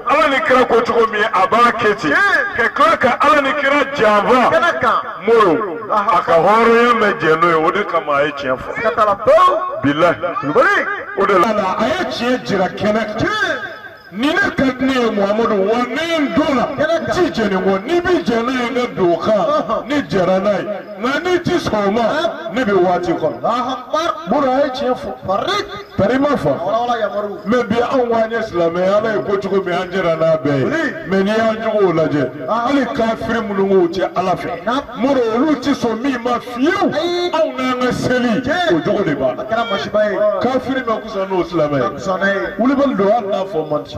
ala ni kira ko cogo min a b'a kɛ ten ka tila ka ala ni kira janfa kɛnɛ kan moro a ka hɔrɔnya ma jɛn n'o ye o de kama a ye tiɲɛ fɔ ka tala pewu bilahi bari o de la a ye tiɲɛ jira kɛnɛ kan ni ne ka di ne ye muhamadu wa ne ye n don la n ti jɛn nin kɔ n'i bɛ jɛn n'a ye ne don o kan ne jɛra n'a ye nka n'i ti sɔn o ma ne bɛ waati kɔnɔ moro a ye tiɲɛ fɔ bari Tari ma fa mais bi anw ko an ye silamɛ ala ye ko cogo min an jɛra n'a bɛɛ ye mais n'i y'an jogow lajɛ hali kafiri minnu k'u tɛ ala fɛ mori olu tɛ sɔn min ma fiyewu anw n'an ka seli o jogo de b'a la kafiri ma kusa n'o silamɛ ye wulibali don hali n'a fɔ man di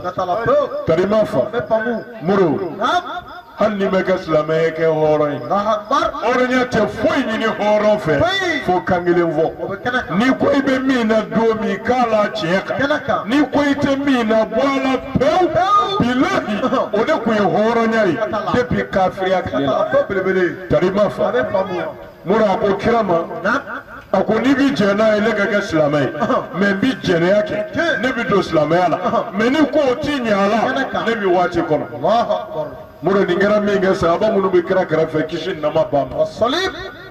tari ma fa mori hali n'i ma kɛ silamɛ ye kɛ hɔrɔn ye hɔrɔnya tɛ foyi ɲini hɔrɔn fɛ fo kan kelen fɔ n'i ko i bɛ min na don min k'a la tiɲɛ kan n'i ko i tɛ min na bɔ a la pewu bilahi o de tun ye hɔrɔnya ye depuis kafiriya tile la tari ma fa. mori a ko kira ma a ko n'i bi jɛn n'a ye ne ka kɛ silamɛ ye mais n bi jɛnɛya kɛ ne bɛ don silamɛya la mais n'i ko o ti ɲɛ a la ne bɛ waati kɔnɔ mori nin kɛra min kɛ sahaba minnu bɛ kira kɛrɛfɛ kisi ni nɛɛma b'a ma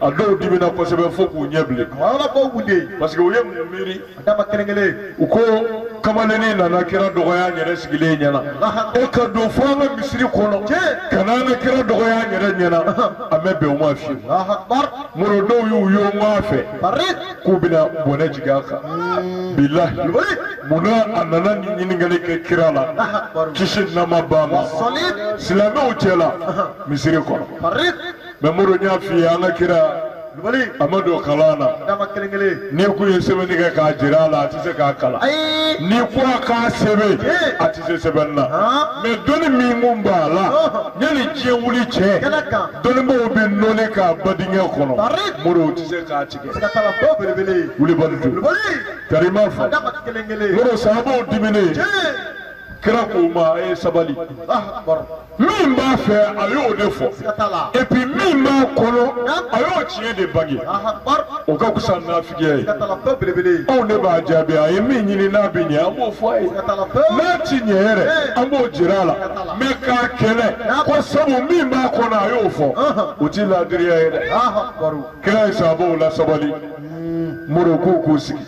a dɔw dimina kosɛbɛ fo k'u ɲɛ bilen parce que u ye mun miiri a dama kelen kelen u ko kamalennin nana kira dɔgɔya an yɛrɛ sigilen ɲɛna e ka don fo an ka misiri kɔnɔ ka n'an ka kira dɔgɔya an yɛrɛ ɲɛna an ma bɛn o ma fiyewu moro dɔw y'u ye n k'a fɛ k'u bɛna bɔnɛ jigin a kan bilahi munna a nana nin ɲininkali kɛ kira la kisi ni nɛɛma b'a ma silamɛw cɛla misiri kɔnɔ mais mori n y'a f'i ye an ka kira wulibali a ma don kalan na dama kelen kelen n'i kun ye sɛbɛnni kɛ k'a jira a la a tɛ se k'a kalan ayi n'i ko a k'a sɛbɛn Ee. a tɛ se sɛbɛnni na Han. mais dɔnni min kun b'a la Ɔhɔn. yanni diɲɛ wuli cɛ Kɛnɛ kan. dɔnnibaaw bɛ nɔɔni k'a ba dingɛ kɔnɔ Bari. mori o tɛ se k'a tigɛ ka taa la bɔ belebele ye wulibali don wulibali kari ma fɔ dama kelen kelen mori sahabaw diminen Ee. kira k'u ma a ye sabali ah baro min b'a fɛ a y'o de fɔ et puis min b'a kɔnɔ a y'o tiɲɛ de bange o ka fisa nafigiya ye anw de b'a jaabi a ye min ɲini n'a bɛ ɲɛ an b'o fɔ a ye n'a ti ɲɛ yɛrɛ an b'o jira a la mais k'a kɛlɛ ko sabu min b'a kɔnɔ a y'o fɔ o ti laadiriya ye dɛ kira ye sahabaw lasabali moro k'u k'u sigi.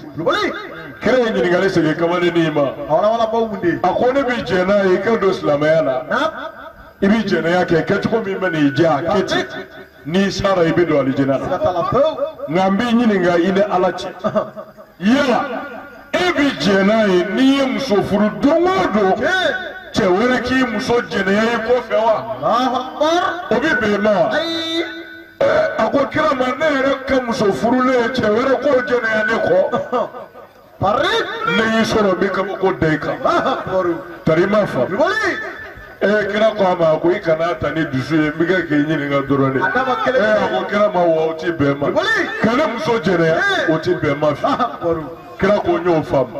kira ye ɲininkali segin kamalennin in ma hɔrɔnwalabaw mun de ye a ko ne bɛ jɛn n'a ye i ka don silamɛya la na i bɛ jɛnɛya kɛ kɛcogo min bɛ n'i diya a kɛ ten n'i sara i bɛ don alijinɛ la ka taa la pewu nka n b'i ɲininka i ni ala cɛ yala e bɛ jɛn n'a ye n'i ye muso furu don o don cɛ wɛrɛ k'i muso jɛnɛya i kɔfɛ wa alahu akbar o bɛ bɛn i ma wa ayi a ko kira ma ne yɛrɛ ka muso furulen ye cɛ wɛrɛ k'o jɛnɛya ne kɔ pari ne y'i sɔrɔ n bɛ kabako da i kan pari tari ma fa boli ee kira ko a ma a ko i kan'a ta ni dusu ye n bɛ kɛ k'i ɲininka dɔrɔn de A dama kelen ee a ko kira ma wa o ti bɛn n ma boli ka ne muso jɛnɛya o ti bɛn n ma fi pari kira ko n y'o faamu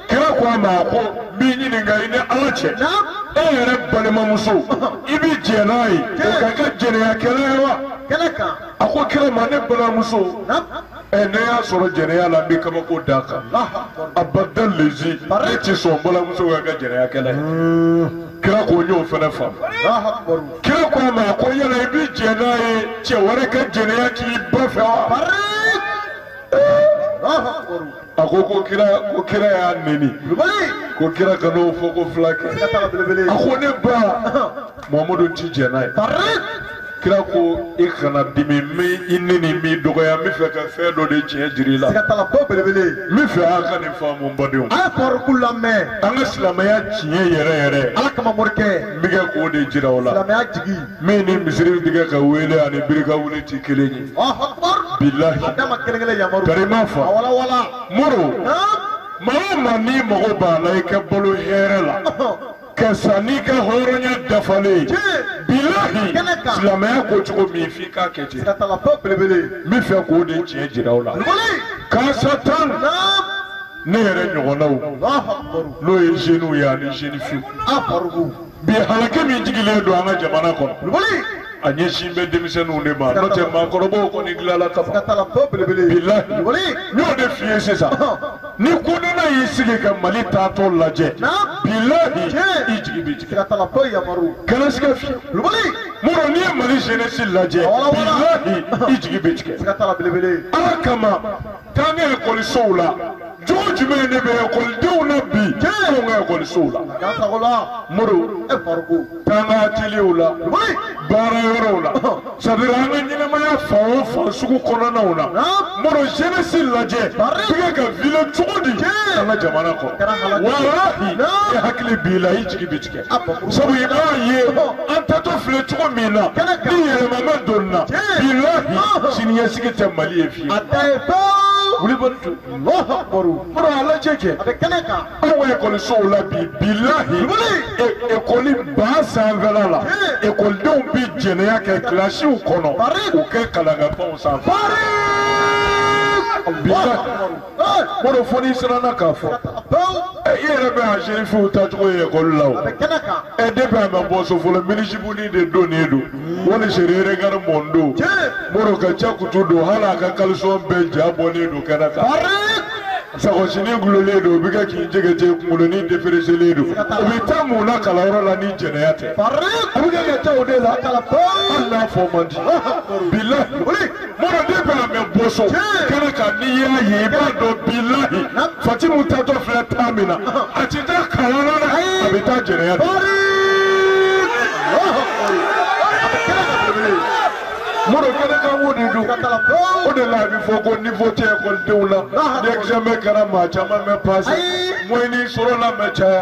kira ko a ma a ko n b'i ɲininka i ni ala cɛ e yɛrɛ balimamuso i bɛ jɛ n'a ye o ka kɛ jɛnɛyakɛla ye wa a ko kira ma ne balimamuso ɛ ne y'a sɔrɔ jɛnɛya la n bɛ kabako d'a kan abada lezi ne ti sɔn balimamuso ka kɛ jɛnɛyakɛla ye kira ko n y'o fana faamu kira ko a ma a ko yala i bɛ jɛ n'a ye cɛ wɛrɛ ka jɛnɛya k'i ba fɛ wa. ko kira ko kira y'a neni ko kira kan'o fɔko fila kɛ a ko ne ba muhamadu ti jɛ n'a ye kira ko i kana dimi n m'i neni n m'i dɔgɔya n bɛ fɛ ka fɛn dɔ de tiɲɛ jir'i la sigatalapo belebele n bɛ fɛ a ka nin faamu n badenw a ye kɔrɔku lamɛn an ka silamɛya tiɲɛ yɛrɛ yɛrɛ ala kama morikɛ n bɛ kɛ k'o de jira aw la silamɛya jigi min ni misiri bɛ kɛ ka wele ani birika wuli tɛ kelen ye bilahi karima fa muru maa o maa n'i mago b'a la i ka balo hɛrɛ la ka sa n'i ka hɔrɔnya dafalen ye bilahi silamɛya ko cogo min f'i k'a kɛ ten n bɛ fɛ k'o de tiɲɛ jira aw la k'a sa tan ne yɛrɛ ɲɔgɔnnaw n'o ye zeniw ye ani zenifiw bi halaki min jigilen don an ka jamana kɔnɔ kulubali a ɲɛsin bɛ denmisɛnninw de ma n'o tɛ maakɔrɔbaw kɔni dilanna ka ban ka taa la tɔ belebele bilahi kulubali n y'o de f'i ye sisan ni kodɔnna y'i sigi ka mali taatɔ lajɛ na bilahi Tiɲɛ. i jigi bɛ tigɛ ka taa la tɔ yamaru kana siga fiyɛ kulubali mɔrɔ n'i ye mali jeunesse lajɛ Wala, wala. bilahi i jigi bɛ tigɛ ka taa la belebele ala kama taa an ka ekɔlisow la cogo jumɛn de bɛ ekɔlidenw na bi anw ka ekɔlisow la Dansagola. mori E farikolo. taa an ka ateliyew la baara yɔrɔw la sadira an ka ɲɛnamaya fan o fan sugu kɔnɔnaw na mori jeunesse lajɛ bɛ kɛ ka vivre cogo di an ka jamana kɔnɔ walahi e hakili b'i la i jigi bi tigɛ sabu i b'a ye an taatɔ filɛ cogo min na ni yɛlɛma ma donna bilahi siniɲɛsigi tɛ mali ye fiyewu A da ye pewu. wuli bɛ tu Mɔrɔ ala cɛ cɛ a bɛ kɛnɛ kan anw ekɔlisow la bi bilahi ekɔli ba sanfɛ la ekɔlidenw bɛ jɛnɛya kɛ kilasiw kɔnɔ u kɛ kalakaw sanfɛ. Mɔrɔ fo n'i siranna k'a fɔ i yɛrɛ bɛ a sefiw tacogo ye ekɔli la o ɛ de bɛ a bɛ bɔ so fɔlɔ minizipunin de don nin don wali serere gari mɔndo mɔrɔ ka ca kutu don hali a ka kalisɔn bɛɛ ja bɔlen don kɛnɛ kan sakosinin gulolen don o bɛ kɛ k'i jɛgɛjɛ kunkolonin deferiselen don o bɛ taa mun na kalanyɔrɔ la ni jɛnɛya tɛ a bɛ kɛ ka taa o de la hali n'a fɔ man di bilahi mɔrɔ de b'a mɛ bɔ so kɛnɛ kan n'i y'a ye i b'a dɔn bilahi fatimu taatɔ filɛ taa min na a ti taa kalan na dɛ a bɛ taa jɛnɛya de. mɔrɔ kɛnɛ kan o de don o de la a bɛ fɔ ko nivo tɛ ekɔlidenw la ni ɛkizamɛ kɛra maa caman ma pase mɔyɛni sɔrɔla ma caya.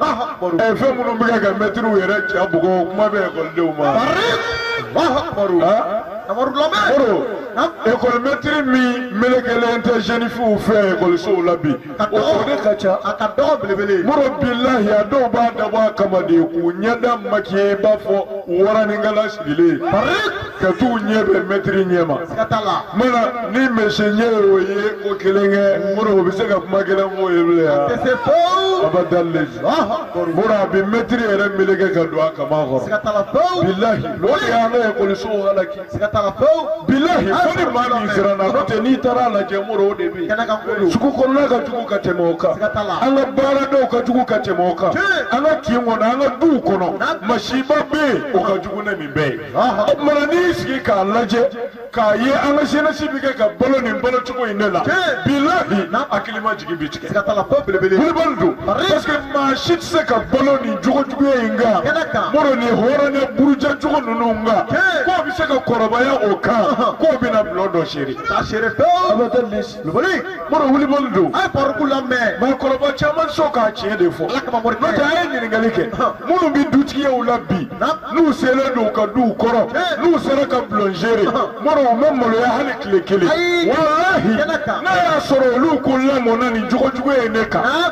ɛ fɛn minnu bɛ kɛ ka mɛtiriw yɛrɛ ja bugɔ kuma bɛ ekɔlidenw ma. Moro ekɔli mɛtiri min melekelen tɛ zenifiw fɛ ekɔlisow la bi o de ka ca. A ka dɔgɔ belebele. Moro bilahi a dɔw b'a dabɔ a kama de k'u ɲɛda makiye i b'a fɔ waraninkala sigilen. ka t'u ɲɛ bɛn mɛtiri ɲɛ ma mana ni mɛsi ɲɛ ye o ye o kelen kɛ mura o bɛ se ka kuma kelen f'o ye bilen wa abada mura a bɛ mɛtiri yɛrɛ meleke ka don a kaman kɔrɔ bilahi o de y'an ka ekɔliso halaki bilahi fo ni maa min siranna n'o tɛ n'i taara a lajɛ mura o de bɛ yen sugu kɔnɔna ka jugu ka tɛmɛ o kan an ka baaradaw ka jugu ka tɛmɛ o kan an ka kin kɔnɔ an ka duw kɔnɔ masiba bɛ yen o ka jugu ni nin bɛɛ ye. o tumana n'i y'i sigi k'a lajɛ k'a ye an ka jeunesse bɛ kɛ ka balo nin balo cogo in de la bilahi hakilima jigi bi tigɛ wulibali don parce que maa si tɛ se ka balo nin jogo juguya in kan mɔrɔ nin hɔrɔnya buruja cogo ninnu kan k'o bɛ se ka kɔrɔbaya o kan k'o bɛna bulon dɔ seere Lubali mɔrɔ wulibali don a ye Faruku lamɛn mɔgɔkɔrɔba caman sɔn ka tiɲɛ de fɔ ala kama mɔrɔ n'o tɛ a ye ɲininkali kɛ minnu bɛ dutigiyaw la bi n'u selen don ka duw kɔrɔ n'u sera ka bulonzere mɔrɔ u ma maloya hali tile kelen walahi n'a y'a sɔrɔ olu kun lamɔna nin jogo juguya nin kan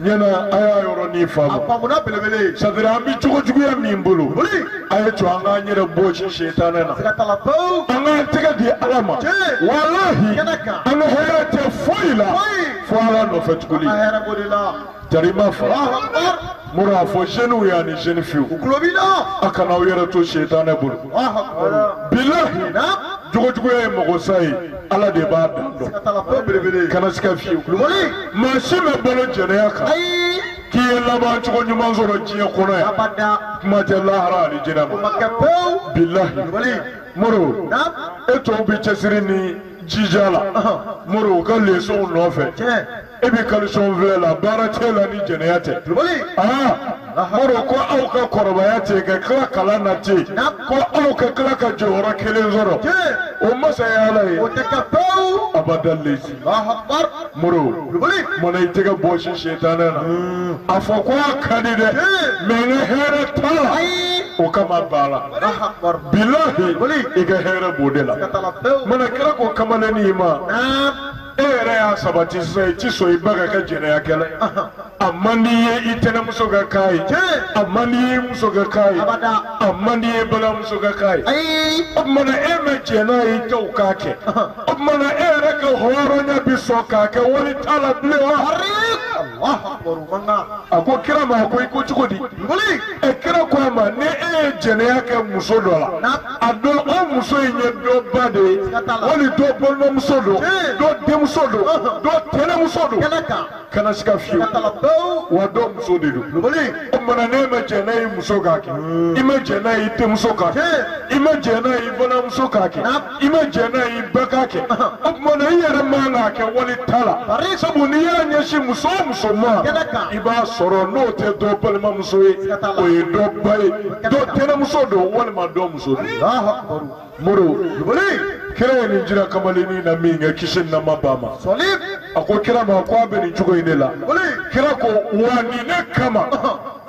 ɲɛna a y'a yɔrɔnin faamu a faamuna belebele sadira an bɛ jogo juguya min bolo Wuli. a ye to an k'an yɛrɛ bɔsi setanɛ na k'a ta a la pewu an k'an tɛgɛ di ala ma Tiɲɛ. walahi Kɛnɛ kan. an ka hɛrɛ tɛ foyi la Foyi. fo ala nɔfɛ tuguni a hɛrɛ b'o de la jarima fa alahu akibar mura a fɔ zeniw ye ani zeni fiyew u kulo b'i la a kana aw yɛrɛ to setanɛ bolo alahu akibar bilahi na jogo juguya ye mɔgɔ sa ye ala de b'a dan dɔn kana siga fiyewu maa si ma balo jɛnɛya kan k'i ye laban cogo ɲuman sɔrɔ diɲɛ kɔnɔ yan kuma tɛ lahara ani jinɛ ma bilahi moro e tɔw bɛ cɛsiri ni jija la moro u ka lesɔnw nɔfɛ e bɛ kalisɔn filɛ la baara t'i la ni jɛnɛya tɛ aa moro ko aw ka kɔrɔbaya tɛ ka tila kalan na ten ko aw ka tila ka jɔyɔrɔ kelen sɔrɔ o masaya ala ye o tɛ kɛ pewu abada lezi moro mana i tɛgɛ bɔsi setanɛ na a fɔ ko a ka di dɛ mɛ n ka hɛrɛ t'a la o kama b'a labila i ka hɛrɛ b'o de la mana kira ko kamalennin ma e yɛrɛ y'a sabati sisan i ti sɔn i ba ka kɛ jɛnɛyakɛla ye a man di i ye i tɛnɛmuso ka k'a ye a man di i ye i muso ka k'a ye a man di i ye balimamuso ka k'a ye o tuma na e ma jɛ n'a ye i taw k'a kɛ o tuma na e yɛrɛ ka hɔrɔnya bi sɔn k'a kɛ wali ta la bilen wa a ko kira ma a ko i ko cogo di ɛ kira ko a ma ni e ye jɛnɛya kɛ muso dɔ la a dɔn o muso in ye dɔ ba de ye wali dɔ balimamuso don dɔ denmuso don dɔ tɛnɛmuso don kana siga fiyewu wa dɔ muso de don o mana n'e ma jɛ n'a ye muso k'a kɛ i ma jɛ n'a ye denmuso k'a kɛ i ma jɛ n'a ye balimamuso k'a kɛ i ma jɛ n'a ye i ba k'a kɛ o tuma na i yɛrɛ man k'a kɛ wali ta la sabu n'i y'a ɲɛsin muso o muso ma i b'a sɔrɔ n'o tɛ dɔ balimamuso ye o ye dɔ ba ye. dɔ tɛnɛmuso don walima dɔ muso don Alahu akibaru. moro Jibiri. kira ye nin jira kamalennin na min kɛ kisi ni nama ba ma Sɔlim. a ko kira ma ko a bɛ nin cogo in de la Jibiri. kira ko wa nin de kama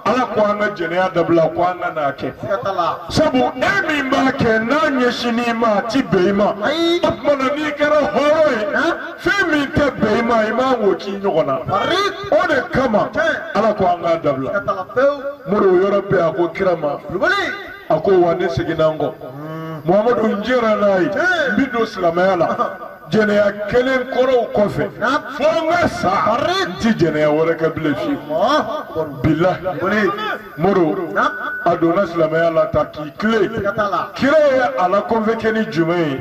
ala ko an ka jɛnɛya dabila ko an kan'a kɛ Siga t'a la. sabu e min b'a kɛ n'a ɲɛsinn'i ma a ti bɛn i ma Ayi. o tuma na n'i kɛra hɔrɔn ye fɛn min tɛ bɛn i ma i man k'o k'i ɲɔgɔn na o de kama ala ko an k'a dabila moro o yɔrɔ bɛɛ a ko kira ma a ko wa ne seginna n kɔ muhamadu n jɛra n'a ye n bɛ don silamɛya la jɛnɛya kɛlen kɔrɔw kɔfɛ fo n ka sa n tɛ jɛnɛya wɛrɛ kɛ bilen fiyewu bilahi moro a donna silamɛya la ta k'i tilen kira ye a la kɔnfɛkɛ ni jumɛn ye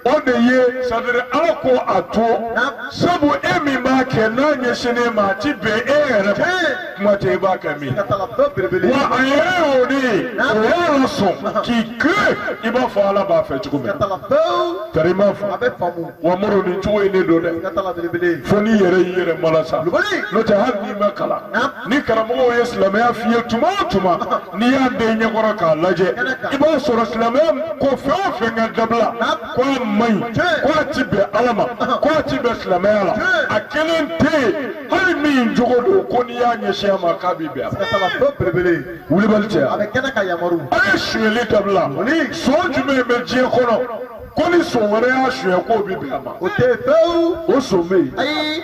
o de ye sadiri ala ko a to sabu e min b'a kɛ n'a ɲɛsinn'e ma a ti bɛn e yɛrɛ ma kuma tɛ i b'a kɛ min wa a yɛrɛ y'o de ye o y'a sɔn k'i tilen i b'a fɔ ala b'a fɛ cogo min tari m'a fɔ wa moro nin cogo in de don dɛ fo n'i yɛrɛ y'i yɛrɛ malasa n'o tɛ hali n'i ma kalan ni karamɔgɔw ye silamɛya f'i ye tuma o tuma n'i y'a d'i ɲɛkɔrɔ k'a lajɛ i b'a sɔrɔ silamɛya ko fɛn o fɛn ka dabila ko a man ɲi ko a ti bɛn ala ma ko a ti bɛn silamɛya la a kelen tɛ yen hali min jogo don ko n'i y'a ɲɛsin a ma k'a bi bɛn a ma. Saba belebele. wulibali cɛ A bɛ kɛnɛ ka yamaru. a ye sonyɛli dabila sɔn jumɛn bɛ diɲɛ kɔnɔ ko ni sɔn wɛrɛ y'a sonyɛ k'o bɛ bɛn a ma O tɛ yen pewu. o sɔn bɛ yen Ayi.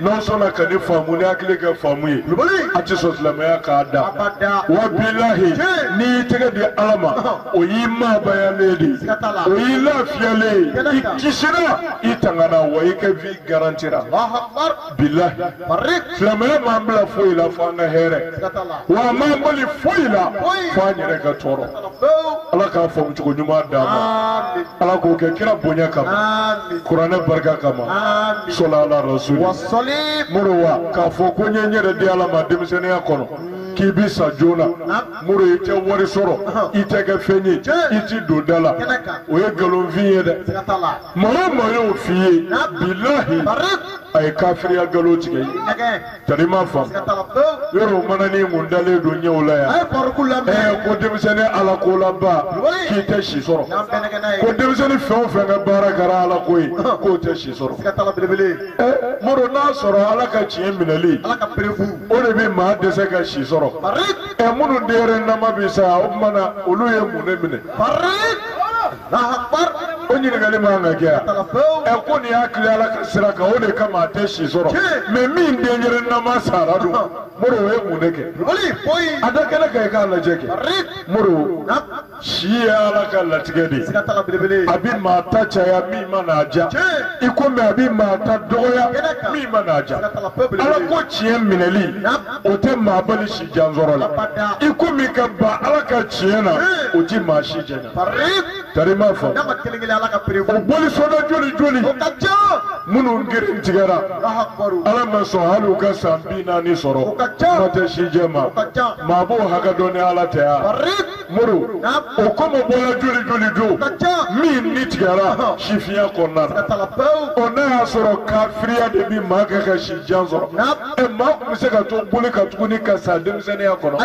n'aw sɔnna ka ne faamu ni hakili ka faamu ye a tɛ sɔn silamɛya k'a da wa bilahi n'i y'i tɛgɛ di ala ma o y'i maabayalen de ye o y'i lafiyalen ye i kisira i tangana wa i ka vi garantira bilahi silamɛya m'an bila foyi la fo an ka hɛrɛ wa a m'an bali foyi la fo an yɛrɛ ka tɔɔrɔ. ala k'a faamu cogo ɲuman d'an ma ala k'o kɛ kira bonya kama kuranɛ barika kama sɔla ala rasuli moro wa k'a fɔ ko n'i y'i yɛrɛ di ala ma denmisɛnninya kɔnɔ k'i bi sa joona moro i tɛ wari sɔrɔ i tɛ kɛ fɛn ye i ti don da la o ye nkalonfin ye dɛ maa o maa y'o f'i ye bilahi a ye kafiriya nkalon tigɛ i ye. Tari ma fa yɔrɔ mana ni mun dalen don ɲɛw la yan ɛɛ ko denmisɛnnin ala ko laba k'i tɛ si sɔrɔ ko denmisɛnnin fɛn o fɛn ka baara kɛra ala ko ye k'o tɛ si sɔrɔ ɛɛ moro n'a sɔrɔ ala ka tiɲɛ minɛli o de bɛ maa dɛsɛ ka si sɔrɔ ɛ minnu denyɛrɛnin nama bi sa o tuma na olu ye mun de minɛ. o ɲininkali man kan ka kɛ yan ɛ ko nin y'a tilen ala ka sira kan o de kama a tɛ si sɔrɔ mɛ min denyɛrɛ nama sara dun moro o ye mun de kɛ a da kɛnɛ kan i k'a lajɛ kɛ moro si ye ala ka latigɛ de ye a bɛ maa ta caya min man'a ja i komi a bɛ maa ta dɔgɔya min man'a ja ala ko tiɲɛ minɛli o tɛ maa bali si jan sɔrɔ la i komi ka ban ala ka tiɲɛ na o tɛ maa si jɛ Tari ma fa o bolisɔnna joli joli minnu geren tigɛra ala ma sɔn hali u ka san bi naani sɔrɔ kuma tɛ sijɛ ma maa b'o hakɛ dɔn ni ala tɛ wa moro o kɔmɔbɔla joli joli don min ni tigɛra sifinya kɔnɔna na o n'a y'a sɔrɔ kafiriya de bɛ maa kɛ ka si jan sɔrɔ ɛ maa tun bɛ se ka to boli kan tuguni ka sa denmisɛnninya kɔnɔ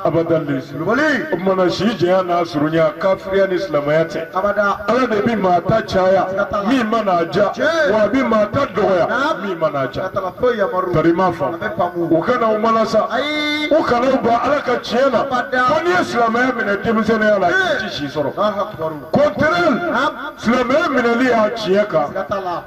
abada wulibali o tumana si jɛya n'a surunya kafiriya ni silamɛya tɛ abada ala de bɛ maa ta caya min mana a ja Tiɲɛ. wa a bɛ maa ta dɔgɔya Naam. min mana a ja ka taga foyi yamaru tari ma fa a bɛ faamu u kana u mana sa ayi u kana u ban ala ka tiɲɛ na Abada. ko n'i ye silamɛya minɛ denmisɛnninya la i ti si sɔrɔ Allahu akbar kɔntɛrɛli Naam. silamɛya minɛli y'a tiɲɛ kan ka taga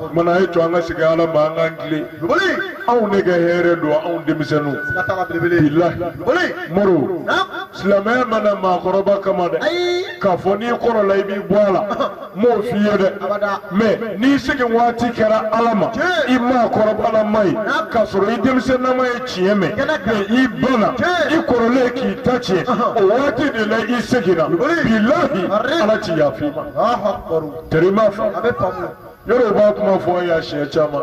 O tuma na a ye to an ka segin Ala ma an k'an tilen. Duguli! Aw de ka hɛrɛ don aw denmisɛnw. Siga t'a la belebele. Bilahi. Duguli! Moro. Naamu! Silamɛya ma na maakɔrɔba kama dɛ. Ayi! K'a fɔ n'i kɔrɔla i b'i bɔ a la. N m'o f'i ye dɛ. Abada. Mais n'i segin waati kɛra Ala ma. Tiɲɛ! I maakɔrɔbalama ye. Naamu! K'a sɔrɔ i denmisɛnnama ye tiɲɛ mɛn. Kɛnɛ kan. Mais i banna. Tiɲɛ! I kɔrɔlen k'i ta tiɲɛ. Ɔhɔn. O waati de la i seginna. Duguli! Bilahi! Arre! Ala ti yafa i ma. Alahu akibaru. Tari i m'a faamu. A bɛ faamu. yɔrɔ i b'a kuma fɔ yan siɲɛ caman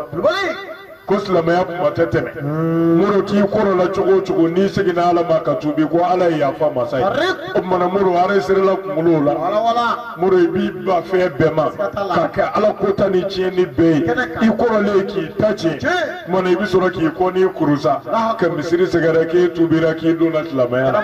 ko silamɛya kuma tɛ tɛmɛ moro k'i kɔrɔla cogo o cogo n'i seginna ala ma ka tubi ko ala ye yafa masa ye o tuma na moro aresirila kunkolo la moro i b'i ban fɛn bɛɛ ma ka kɛ ala kota ni tiɲɛni bɛɛ ye i kɔrɔlen k'i ta tiɲɛ tuma na i bɛ sɔrɔ k'i kɔnin kuru sa ka misiri sɛgɛrɛ k'i tubira k'i donna silamɛya la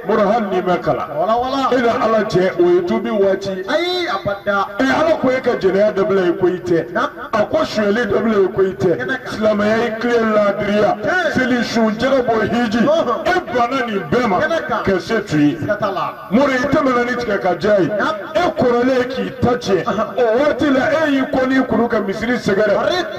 moro hali n'i ma kalan wala wala e ni ala cɛ o ye tubi waati ayi abada ɛ ala ko e ka jɛnɛya dabila e ko i tɛ a ko sonyɛli dabila e ko i tɛ silamɛya i tilen laadiriya seli sun jaka bɔ hiji e banna nin bɛɛ ma ka se tu siga t'a la moro i tɛmɛna ni tigɛ ka diya ye e kɔrɔlen k'i ta tiɲɛ o waati la e y'i kɔnin kuru ka misiri sɛgɛrɛ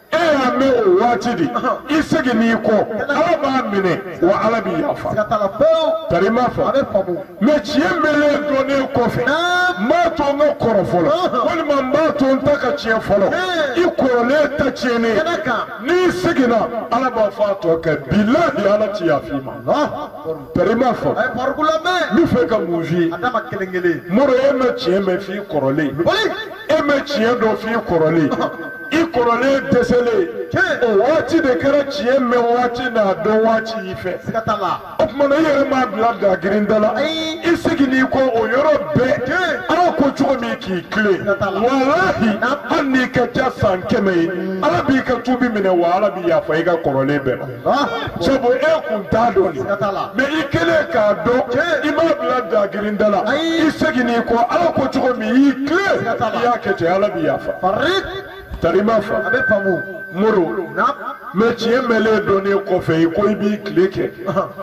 e y'a mɛn o waati de i seginn'i kɔ ala b'a minɛ wa ala b'i yafa siga t'a la pewu tari i m'a faamu a bɛ faamu mɛ tiɲɛ mɛlen dɔnnen kɔfɛ n b'a to n ka kɔrɔ fɔlɔ walima n b'a to n ta ka tiɲɛ fɔlɔ i kɔrɔlen ta tiɲɛnen kɛnɛ kan n'i seginna ala b'a fɔ a tɔ kɛ bilahi ala ti yafa i ma tari i m'a faamu a ye parikulu lamɛn n b'a fɛ ka mun f'i ye a dama kelen kelen moro e ma tiɲɛ mɛn f'i kɔrɔlen boli e ma tiɲɛ dɔn f'i kɔrɔlen i kɔrɔlen dɛsɛlen o waati de kɛra tiɲɛ mɛn waati n'a dɔn waati y'i fɛ o tuma na i yɛrɛ m'a bila dagirin da la i seginn'i kɔ o yɔrɔ bɛɛ ala ko cogo min k'i tilen walahi hali n'i ka ca san kɛmɛ ye ala b'i ka tubi minɛ wa ala b'i yafa i ka kɔrɔlen bɛɛ ma sabu e kun t'a dɔn de mɛ i kɛlen k'a dɔn i m'a bila dagirin da la i seginn'i kɔ ala ko cogo min i y'i tilen i y'a kɛ ten ala b'i yafa tari i m'a faamu a bɛ faamu moro mɛ tiɲɛ mɛlen dɔnnen kɔfɛ i ko i b'i tile kɛ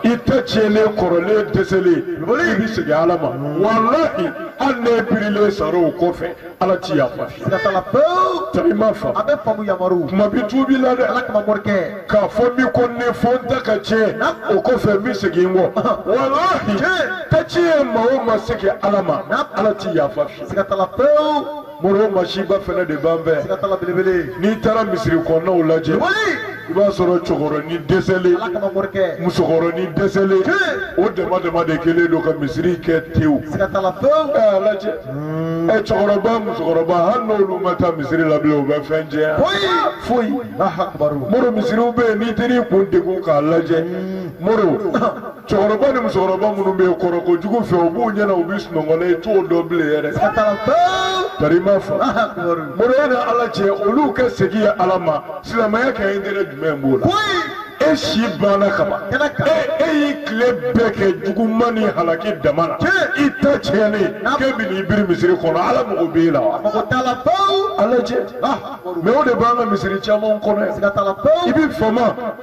i ta tiɲɛlen kɔrɔlen dɛsɛlen i bɛ segin ala ma walahi hali n'e birilen sara o kɔfɛ ala ti yafa siga t'a la pewu tari i m'a faamu a bɛ faamu yamaruw kuma bi tubi la dɛ ala kama morikɛ k'a fɔ min ko ne fɔ n ta ka tiɲɛ Naam. o kɔfɛ n bɛ segin n kɔ walahi Tiɲɛ. ta tiɲɛ maa o ma segin ala ma Naam. ala ti yafa fiye siga t'a la pewu moro masiba fɛnɛ de b'an fɛ siga t'a la belebele n'i taara misiri kɔnɔnaw lajɛ wali i b'a sɔrɔ cɛkɔrɔni dɛsɛlen musokɔrɔni dɛsɛlen o dama dama de kɛlen don ka misiri kɛ tewu ɛ a lajɛ ɛ cɛkɔrɔba musokɔrɔba hali n'olu ma taa misiri la bilen u bɛ fɛn ɲɛ yan foyi moro misiriw bɛ yen n'i taar'i kun degun k'a lajɛ moro cɛkɔrɔba ni musokɔrɔba minnu bɛ kɔrɔ ko jugu fɛ u b'u ɲɛna u bɛ sunɔgɔ la i t'o dɔn bilen yɛrɛ tari i m'a fa moro e ni ala cɛ olu ka segin ye ala ma silamɛya ka intérêt jumɛn b'o la e si banna kaban e e y'i tile bɛɛ kɛ juguman ni halaki dama na i ta tiɲɛnen k'e bɛ n'i biri misiri kɔnɔ ala mago b'e la wa a lajɛ mɛ o de b'an ka misiri caman kɔnɔ yan i bɛ fama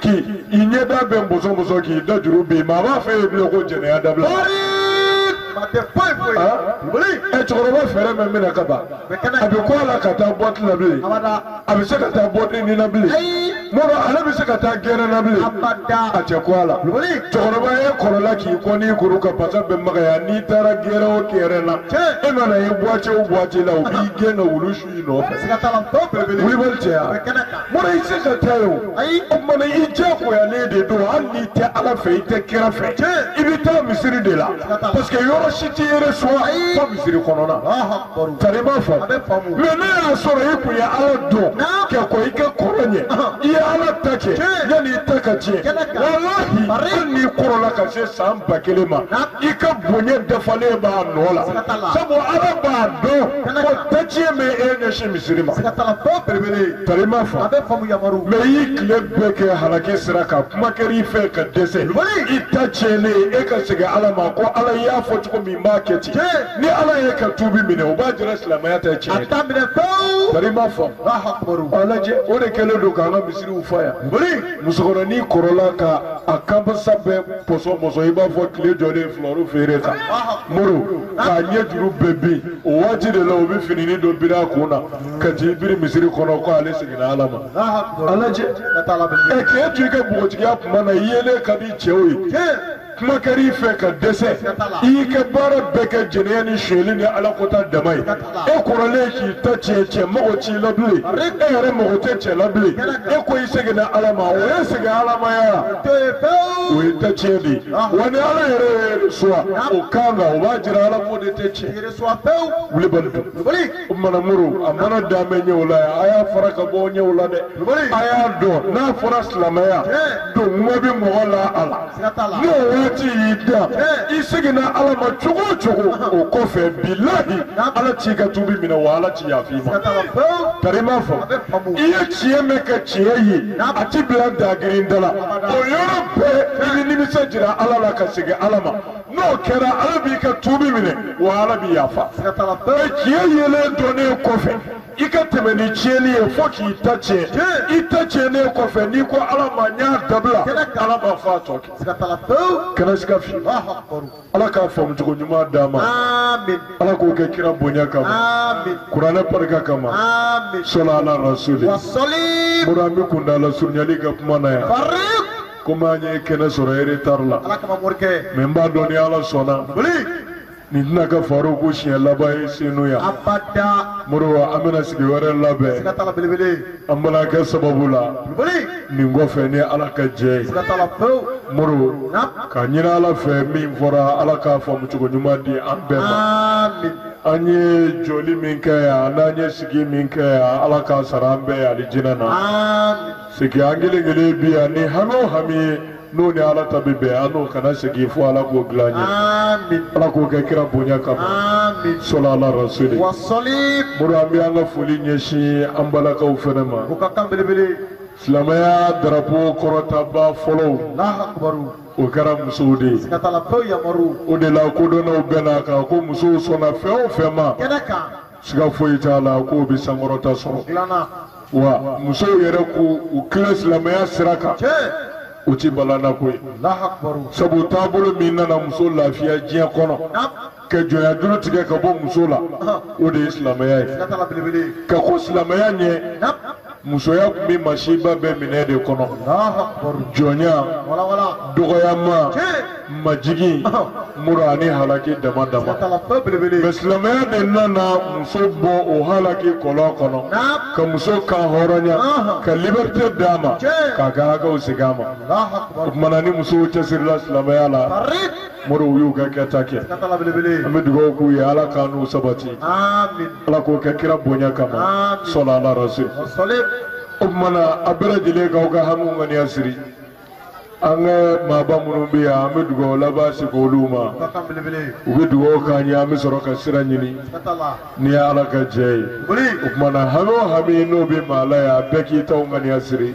k'i i ɲɛda bɛɛ pɔsɔn pɔsɔn k'i da juru bin maa b'a fɛ yen bilen ko jɛnɛya dabila. a tɛ foyi foyi. ɛ cɛkɔrɔba fɛɛrɛ mɛ minɛ ka ban a bɛ kɔ a la ka taa boîte la bilen a bɛ se ka taa boîte ni na bilen moro ale bɛ se ka taa gɛrɛn na bilen a tɛ kɔ a la cɛkɔrɔba e kɔrɔla k'i kɔni kuru ka pasa bɛɛ magaya n'i taara gɛrɛn o gɛrɛn na e mana ye boîte o boîte la o b'i gɛn ka wulu su. i nɔfɛ siga t'a la tɔ belebele wulibali cɛya bɛ kɛnɛ kan moro i se ka taa yen o ayi o tuma na i diyagoyalen de don hali n'i tɛ ala fɛ i tɛ kira fɛ i bɛ taa misiri de la parce que yɔrɔ si t'i yɛrɛ sɔrɔ fo misiri kɔnɔna tari ma fa mɛ n'a y'a sɔrɔ i kun ye ala dɔn kɛ ko i ka kɔrɔ ɲɛ i ye ala ta kɛ yanni i ta ka tiɲɛ walahi hali n'i kɔrɔla ka se san ba kelen ma i ka bonya dafalen b'a nɔ la sabu ala b'a dɔn ta tiɲɛ ma e ɲɛsin misiri ma. ka taga fɛn belebele ye. tari ma fa. a bɛ faamu yamaru. mɛ i y'i tile bɛɛ kɛ halaki sira kan kuma kɛra i fɛ ka dɛsɛ. i ta tiɲɛlen e ka segin ala ma ko ala y'a fɔ cogo min b'a kɛ ten. tiɲɛ. ni ala y'e ka tuubi minɛ o b'a jira silamɛya tɛ tiɲɛ. a t'a minɛ pewu. tari ma fa. a lajɛ o de kɛlen don k'an ka misiriw fa yan. musokɔrɔnin kɔrɔla ka a kanpasa bɛɛ pɔsɔn pɔsɔn i b'a fɔ tile jɔlen filawuru feere kan. moro. k'a ɲɛ juru bɛɛ bin o waati de la u bɛ finini dɔ biri a kun na ka t'i biri misiri kɔnɔ ko ale seginna ala ma a lajɛ ɛ k'e to i ka npogotigiya kuma na i yelen ka di cɛw ye kuma kɛra i fɛ ka dɛsɛ i y'i ka baara bɛɛ kɛ jɛnɛya ni sonyɛli ni ala kota dama ye e kɔrɔlen k'i ta tiɲɛ cɛ mago t'i la bilen e yɛrɛ mago tɛ cɛ la bilen e ko i seginna ala ma o ye segin alamaya la o ye ta tiɲɛ de ye wa ni ala yɛrɛ y'e reçoit o kan kan o b'a jira ala ko de tɛ tiɲɛ wulibali don o mana muru a mana daminɛ ɲɛw la yan a y'a fara ka bɔ ɲɛw la dɛ a y'a dɔn n'a fɔra silamɛya don mɔgɔ bɛ mɔgɔ la a la n'o waati y'i da i seginna ala ma cogo o cogo o kɔfɛ bilahi ala t'i ka tubi minɛ wa ala t'i yafa i ma kari m'a fɔ i ye tiɲɛ mɛn ka tiɲɛ ye a ti bila dagirin da la o yɔrɔ bɛɛ i bɛ nimisa jira ala la ka segin ala ma n'o kɛra ala b'i ka tubi minɛ wa ala b'i yafa o ye tiɲɛ yelen dɔnnen kɔfɛ i ka tɛmɛ ni tiɲɛni ye fo k'i ta tiɲɛ i ta tiɲɛnen kɔfɛ n'i ko ala ma n y'a dabila ala b'a fɔ a tɔ kɛ kana siga fi ala k'a faamu cogo ɲuman d'an ma ala k'o kɛ kira bonya kama kuranɛ barika kama sɔli ala rasuli o la an bɛ kuntaala surunyali kɛ kuma na yan komi an ye kɛnɛ sɔrɔ eretari la mɛ n b'a dɔn ni ala sɔnna nin tɛna kɛ faroku siɲɛ laban ye senu yan abada moriba an bɛna sigi wɛrɛ labɛn siga t'a la belebele an bɛna kɛ sababu la boli nin kɔfɛ ni ala ka jɛ ye siga t'a la pewu moro na k'a ɲini ala fɛ min fɔra ala k'a faamu cogo ɲuman di an bɛɛ ma amin an ye jɔli min kɛ yan n'an ye sigi min kɛ yan ala k'a sara an bɛɛ ye alijinɛ na amin sigi an kelen kelen bi yan ni hami o hami ye n'o ni ala ta bɛ bɛn an n'o kana segin fo ala k'o dilan an ye amin ala k'o kɛ kira bonya kama amin sɔli ala rasuli wa salim mori an bɛ an ka foli ɲɛsin an balakaw fana ma o ka kan belebele silamɛya darapo kɔrɔtaba fɔlɔw lahakubaru o kɛra musow de ye siga t'a la pewu yamaru o de la kodɔnnaw bɛnn'a kan ko musow sɔnna fɛn o fɛn ma kɛnɛ kan siga foyi t'a la k'o bɛ sankɔrɔta sɔrɔ wa musow yɛrɛ k'u tilen silamɛya sira kan o ti balannako ye sabu taabolo min nana muso lafiya diɲɛ kɔnɔ ka jɔnya juru tigɛ ka bɔ muso la o de ye silamɛya ye ka kɔn silamɛya ɲɛ musoya tun bɛ masiba bɛɛ minɛ de kɔnɔ jɔnya dɔgɔyama majigin muru ani halaki dama dama mɛ silamɛya de nana muso bɔ o halaki kɔlɔn kɔnɔ ka muso kanhɔrɔnya ka liberté d'a ma k'a ka hakɛw segin a ma o tuma na ni musow cɛsirila silamɛya la mori u y'u ka kɛta kɛ Siga t'a la belebele. an bɛ dugawu k'u ye ala k'an n'u sabati Amin. ala k'o kɛ kira bonya kama Amin. sɔli ala rasul Salim. o tuma na a bɛɛ lajɛlen k'aw ka hamiw ŋaniya siri an ka maaba minnu bɛ yan an bɛ dugawu laban sigi olu ma Siga t'a la belebele. u bɛ dugawu k'an ye an bɛ sɔrɔ ka sira ɲini Siga t'a la. ni ye ala ka jɛ ye Boli. o tuma na hami o hami n'o bɛ maa la yan a bɛɛ k'i taw ŋaniya siri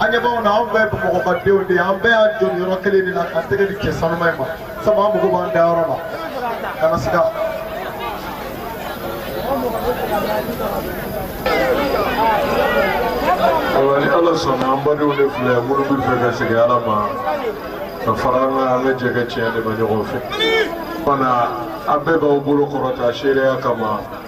an ɲɛ b'anw na anw bɛɛ ye bamakɔ ka denw de ye an bɛɛ y'an jɔ nin yɔrɔ kelen de la k'an tɛgɛ di cɛ sanuma in ma sabu an mago b'an dayɔrɔ la kana siga ayiwa ni ala sɔnna an badenw de filɛ minnu b'a fɛ ka segin ala ma ka fara an kan an ka jɛ ka tiɲɛ dɛmɛ ɲɔgɔn fɛ fana aw bɛɛ b'aw bolo kɔrɔta seereya kama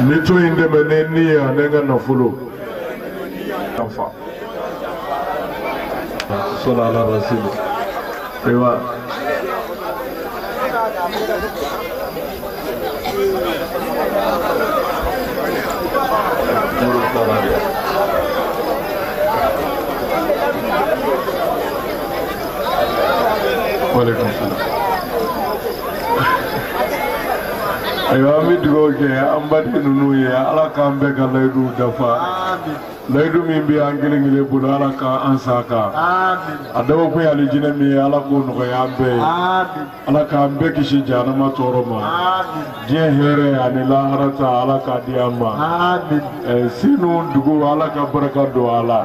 n bɛ tɔn in dɛmɛ ne ni ye ani n ka nafolo sali ala rasulu ayiwa Waalaikumsalam. ayiwa an bɛ dugawu kɛ an baden ninnu ye ala k'an bɛɛ ka layiduw dafa layidu min bɛ an kelen kelen bolo ala k'an sa a kan a dabɔkun ye alijinɛ min ye ala k'o nɔgɔya an bɛɛ ye ala k'an bɛɛ kisi jahanama tɔɔrɔ ma diɲɛ hɛrɛ ani lahara ta ala k'a di an ma Eh, senu dugu ala ka barika don a la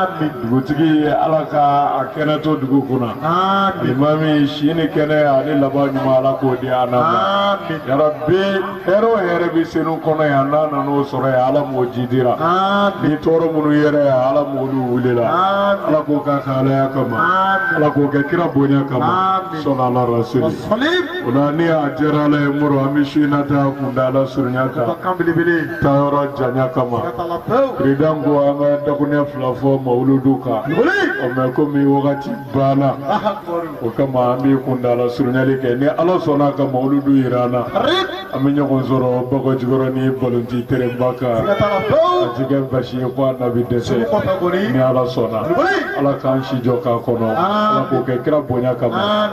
ami dugutigi ye ala ka a kɛnɛ to dugu kunna ami limami si ni kɛnɛ ani laban ɲuman ala k'o di an ma ami yarabi hɛrɛ o hɛrɛ bɛ senu kɔnɔ yan n'an nana o sɔrɔ yan ala m'o jidira ami ni tɔɔrɔ minnu yɛrɛ yan ala m'olu wulila ami ala k'o k'a ka alaya kama ami ala k'o kɛ kira bonya kama Amin. sali ala rasuli o la ni a diyara ala ye moro an bɛ su in na ta kuntaala surunya kan kan belebele taa yɔrɔ janya kama ka la pewu peresidan ko an ka dakuruɲɛ fila fɔ mawuludu kan ɔ mɛ komi wagati banna o kama an bɛ kuntaala surunyali kɛ ni ala sɔnna ka mawuludu jira an na an bɛ ɲɔgɔn sɔrɔ bakɔjikɔrɔni balontan terenba kan ka la pewu a ti kɛ basi ye ko a na bɛ dɛsɛ kɔfɛ kɔni ni ala sɔnna ala k'an si jɔ k'a kɔnɔ ala k'o kɛ kira bonya kama